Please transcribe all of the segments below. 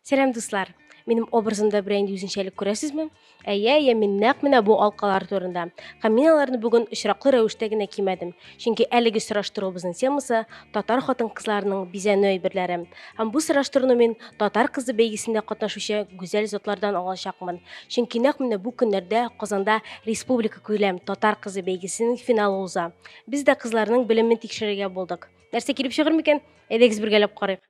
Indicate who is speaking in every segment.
Speaker 1: Сәлам дуслар! Минем образымда берәр инде үзенчәлек күрәсезме? Әйе, әйе, мин нәкъ менә бу алкалар турында. Һәм мин аларны бүген очраклы рәвештә генә кимәдем. Чөнки әлеге сораштыруыбызның темасы татар хатын-кызларының бизәнү әйберләре. Һәм бу сораштыруны мин татар кызы бәйгесендә катнашучы гүзәл затлардан алачакмын. Чөнки нәкъ менә бу көннәрдә Казанда республика күләм татар кызы бәйгесенең финалы уза. Без дә кызларның белемен тикшерергә булдык. Нәрсә килеп чыгыр микән? Әйдәгез бергәләп карыйк.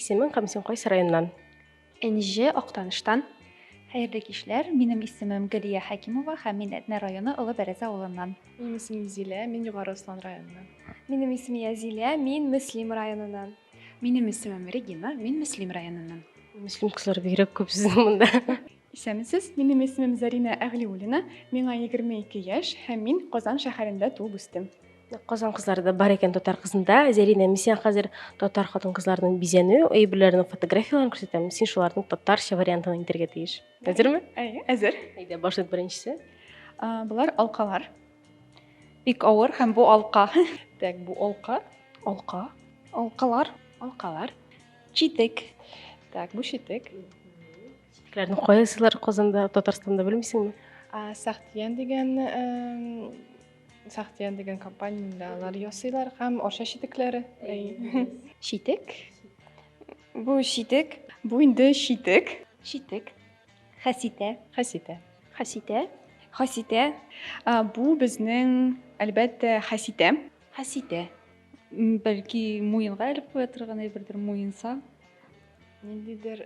Speaker 1: Исемең һәм син кайсы районнан? Энҗе
Speaker 2: Актаныштан. Хәерле кичләр. Минем исемем Галия Хәкимова һәм мин Әтнә районы Олы Бәрәзә авылыннан. Минем исемем Зилә,
Speaker 3: мин Югары Ослан районыннан. Минем исем
Speaker 4: Язилә, мин Мөслим районыннан. Минем исемем
Speaker 5: Регина, мин Мөслим районыннан. Мөслим кызлары
Speaker 1: бигрәк күп сезнең монда. Исәнмесез,
Speaker 3: минем исемем Зарина Әгълиуллина, миңа 22 яшь һәм мин Казан шәһәрендә туып үстем. Казан кызлары
Speaker 1: да бар икән татар кызында. Зәринә, мин сиңа хәзер татар хатын-кызларының бизәнү әйберләренең фотографияләрен күрсәтәм. Син шуларның татарча вариантын әйтергә тиеш. Әзерме? Әйе, әзер. Әйдә,
Speaker 3: башлыйк беренчесе.
Speaker 1: Булар
Speaker 3: алкалар.
Speaker 2: Бик авыр һәм бу алка. Так, бу алка.
Speaker 3: Алка.
Speaker 1: Алкалар.
Speaker 2: Алкалар.
Speaker 5: Читек.
Speaker 2: Так, бу
Speaker 3: читек. Читекләрне
Speaker 1: кайсылар Казанда, Татарстанда белмисеңме? Сахтиян дигән
Speaker 3: Сахтия дигән компаниядә алар ясыйлар һәм арча читекләре.
Speaker 2: Читек.
Speaker 4: Бу читек. Бу инде
Speaker 3: читек. Читек.
Speaker 2: Хәситә. Хәситә.
Speaker 3: Хәситә.
Speaker 2: Хәситә.
Speaker 4: Бу
Speaker 3: безнең, әлбәттә, хәситә. Хәситә.
Speaker 2: Бәлки муенга элеп куя торган әйбердер, муенса.
Speaker 3: Ниндидер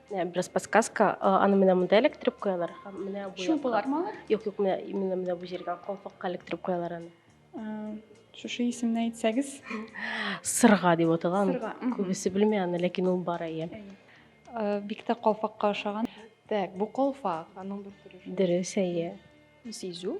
Speaker 3: Ә, бераз
Speaker 1: подсказка аны менә монда эләктереп куялар һәм менә бу шулпылар ма алар юк юк
Speaker 3: менә именно
Speaker 1: менә бу җиргә калфакка эләктереп куялар аны ә, шушы исемне
Speaker 3: әйтсәгез сырга
Speaker 1: дип атала сырга күбесе белми
Speaker 3: аны
Speaker 1: ләкин ул бар әйе ә, бик
Speaker 2: тә калфакка ошаган так бу
Speaker 3: калфак аның бер төре дөрес әйе
Speaker 1: сизү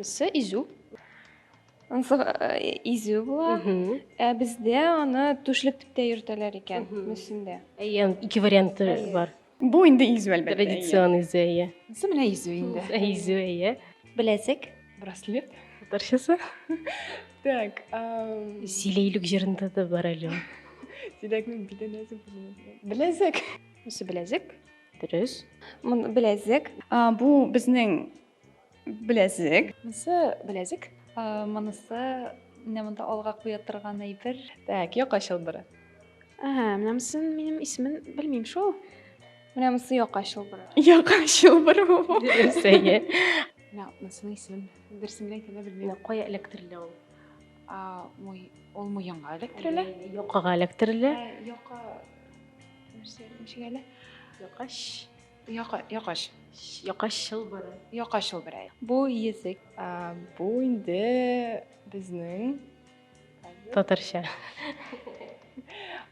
Speaker 3: Сы
Speaker 4: изү. Ансы изү була. Ә бездә аны түшлек дип тә йөртәләр икән, мөсендә. Әйе, ике
Speaker 1: варианты бар. Бу инде изү әлбәттә.
Speaker 3: Традицион изү, әйе.
Speaker 1: Ансы менә изү
Speaker 5: инде. Изү, әйе.
Speaker 1: Беләзек.
Speaker 2: Браслет.
Speaker 3: Татарчасы. Так.
Speaker 1: Силейлек җырында да бар әле. Силәкнең
Speaker 3: бите нәзек. Беләзек. Ансы
Speaker 4: беләзек. Дөрес.
Speaker 1: Беләзек.
Speaker 4: Бу безнең
Speaker 3: Беләзек. Монысы
Speaker 5: беләзек. Монысы
Speaker 2: менә монда алга куя торган әйбер. Так, яка чылбыры.
Speaker 3: Ага, менә
Speaker 4: монысын минем исемен белмим шул. Менә монысы яка чылбыры. Яка чылбыры
Speaker 3: бу. Сәйе.
Speaker 1: Менә монысының
Speaker 5: исемен берсен генә әйтә белмим. Кая эләктерелә ул?
Speaker 1: А, мой,
Speaker 5: ул муенга эләктерелә. Якага эләктерелә.
Speaker 1: Яка
Speaker 5: нәрсә, ничек әле? Якаш.
Speaker 1: Яка,
Speaker 5: якач. Якач
Speaker 1: чылбыры. Якач чылбыры.
Speaker 5: Бу язык.
Speaker 2: А, бу
Speaker 3: инде безнең
Speaker 1: татарча.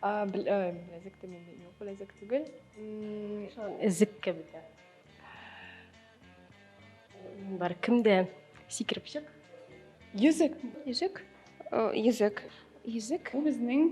Speaker 3: А, беләзек тә мин юк, беләзек түгел. Шул
Speaker 1: язык кебек. Бар кемдә сикереп чык. Йөзек.
Speaker 3: Йөзек.
Speaker 1: Йөзек.
Speaker 4: Йөзек. Бу безнең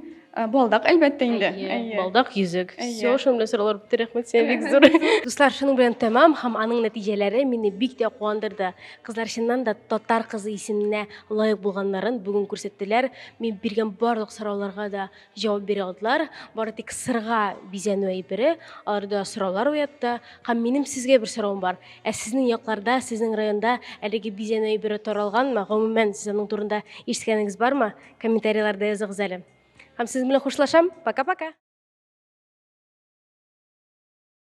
Speaker 2: балдак әлбәттә инде. Балдак йөзек.
Speaker 1: Все, шуның белән сораулар
Speaker 2: бетте.
Speaker 1: Рәхмәт сиңа бик зур. Дуслар, шуның белән тәмам һәм аның нәтиҗәләре мине бик тә куандырды. Кызлар чыннан да татар кызы исеменә лаек булганнарын бүген күрсәттеләр. Мин биргән барлык сорауларга да Җавап бирә алдылар, бары тик сырга бизәнү әйбере аларда сораулар уятты. Һәм минем сезгә бер соравым бар. Ә сезнең якларда, сезнең районда әлеге бизәнү әйбере таралганмы? Гомумән, сез аның турында ишеткәнегез бармы? Комментарийларда языгыз әле. Һәм сезнең белән хушлашам. Пока-пока!